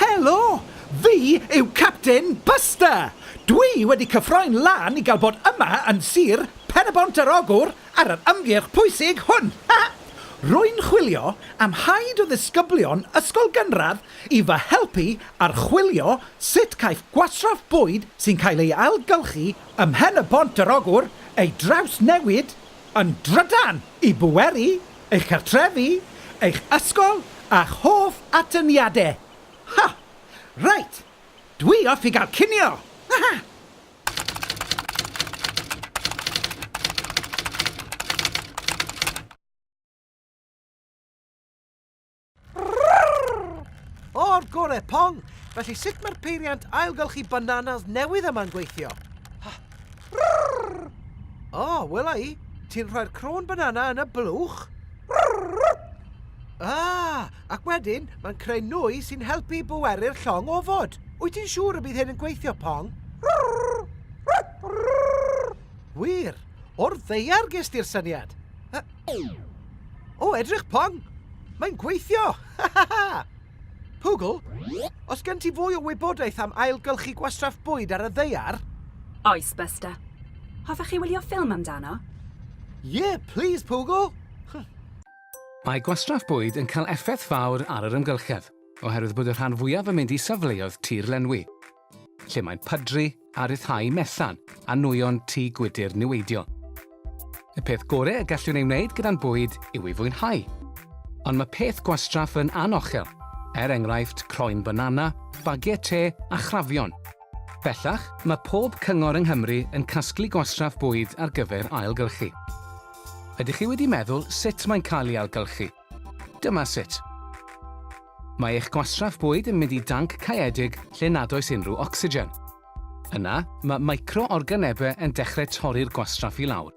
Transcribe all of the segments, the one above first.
Helo! Fi yw Captain Buster! Dwi wedi cyffroi'n lân i gael bod yma yn Sir Pen-y-bont yr Ogwr ar yr ymgyrch pwysig hwn! Rwy'n chwilio am haid o ddisgyblion ysgol gynradd i fy helpu archwilio Sut caiff gwastraff bwyd sy'n cael ei ailgylchu ym Mhen y Bont yr Ogwr ei drawsnewid yn drydan i bweru eich cartrefi, eich ysgol a'ch hoff atyniadau? Ha! Reit, dwi off i gael cinio! Haha! O'r gore, Pong! Felly sut mae'r peiriant ailgylchu bananas newydd yma'n gweithio? O, oh, wela i, ti'n rhoi'r crôn banana yn y blwch? Ah, ac wedyn mae'n creu nwy sy'n helpu i bweru'r llong ofod. Wyt ti'n siŵr y bydd hyn yn gweithio, Pong? Wir, o'r ddeiar ges ti'r syniad. O, edrych pong! Mae'n gweithio! Ha ha ha! Pugl, os gen ti fwy o wybodaeth am ailgylchu gwastraff bwyd ar y ddeiar? Oes, Buster. Hoffech chi wylio ffilm amdano? Ie, plîs, Pugl! Mae gwastraff bwyd yn cael effaith fawr ar yr amgylchedd, oherwydd bod y rhan fwyaf yn mynd i safleoedd tir lenwi. lle mae'n pydru a rhyddhau mellan a nwyon tŷ gwydr niweidiol. Y peth gorau y gallwn ei wneud gyda'n bwyd yw ei fwynhau. Ond mae peth gwastraff yn anochel, er enghraifft croen banana, bagiau te a chrafion. Bellach, mae pob cyngor yng Nghymru yn casglu gwastraff bwyd ar gyfer ailgylchu. Ydych chi wedi meddwl sut mae'n cael ei ailgylchu? Dyma sut. Mae eich gwastraff bwyd yn mynd i danc caeedig lle nad oes unrhyw ocsigen. Yna, mae micro-organebau yn dechrau torri'r gwastraff i lawr.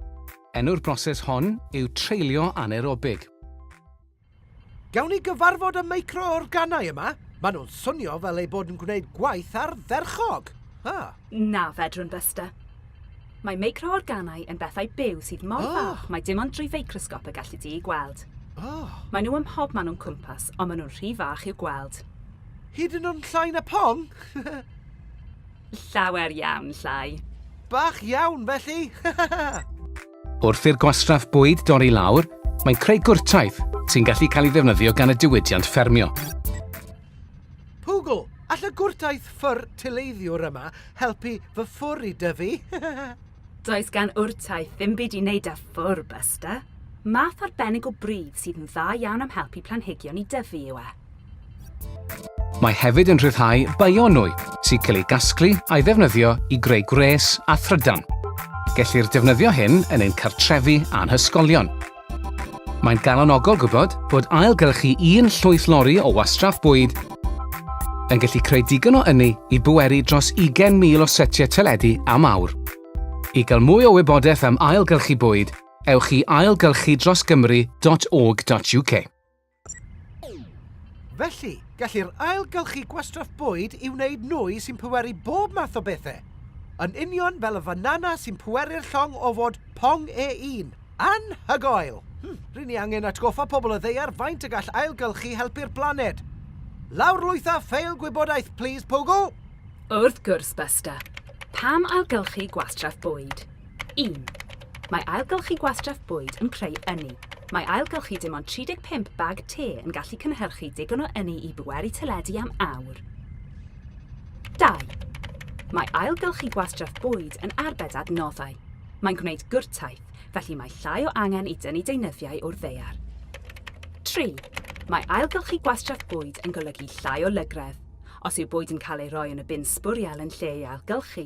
Enw'r broses hon yw treulio anaerobig. Gawn ni gyfarfod y micro-organau yma? Maen nhw'n swnio fel eu bod yn gwneud gwaith ardderchog! Ha! Na fedrwn, Buster. Mae meicro-organau yn bethau byw sydd mor fach mai dim ond drwy feicrosgop y galli di eu gweld. Maen nhw ym mhobman o'n cwmpas, ond maen nhw'n rhy fach i'w gweld. Hyd yn oed llai na pong? Llawer iawn llai. Bach iawn, felly! Wrth i'r gwastraff bwyd dorri lawr, mae'n creu gwrtaith sy'n gallu cael ei ddefnyddio gan y diwydiant ffermio. Pwgl! All y gwrtaith ffwr tileiddiwr yma helpu fy ffwr i dyfu? Does gan wrtaith ddim byd i wneud â ffwr, Buster. Math arbennig o bridd sydd yn dda iawn am helpu planhigion i dyfu yw e. Mae hefyd yn rhyddhau bionwy sy'n cael ei gasglu a'i ddefnyddio i greu gwres a thrydan. Gellir defnyddio hyn yn ein cartrefi a'n hysgolion. Mae'n galonogol gwybod bod ailgylchu un llwyth lori o wastraff bwyd yn gallu creu digon o ynni i bweru dros 20,000 o setiau teledu am awr. I gael mwy o wybodaeth am ailgylchu bwyd, ewch i ailgylchudrosgymru.org.uk. Felly, gellir ailgylchu gwastraff bwyd i wneud nwy sy'n pweru bob math o bethau. Yn union fel y fanana sy'n pweru'r llong o fod pong E1. Anhygoel! Hmm, ry'n ni angen atgoffa pobl y ddaear faint y gall ailgylchu helpu'r blaned. Lawrlwytha ffeil gwybodaeth, plis, Pogo! Wrth gwrs, Buster. Pam ailgylchu gwastraff bwyd? 1. Mae ailgylchu gwastraff bwyd yn creu ynni. Mae ailgylchu dim ond 35 bag te yn gallu cynhyrchu digon o ynni i bwerau teledu am awr. 2. Mae ailgylchu gwastraff bwyd yn arbed adnoddau. Mae'n gwneud gwrtaith, felly mae llai o angen i dynnu deunyddiau o'r ddaear. 3. Mae ailgylchu gwastraff bwyd yn golygu llai o lygredd. Os yw bwyd yn cael ei roi yn y bin sbwriel yn lle ei ailgylchu,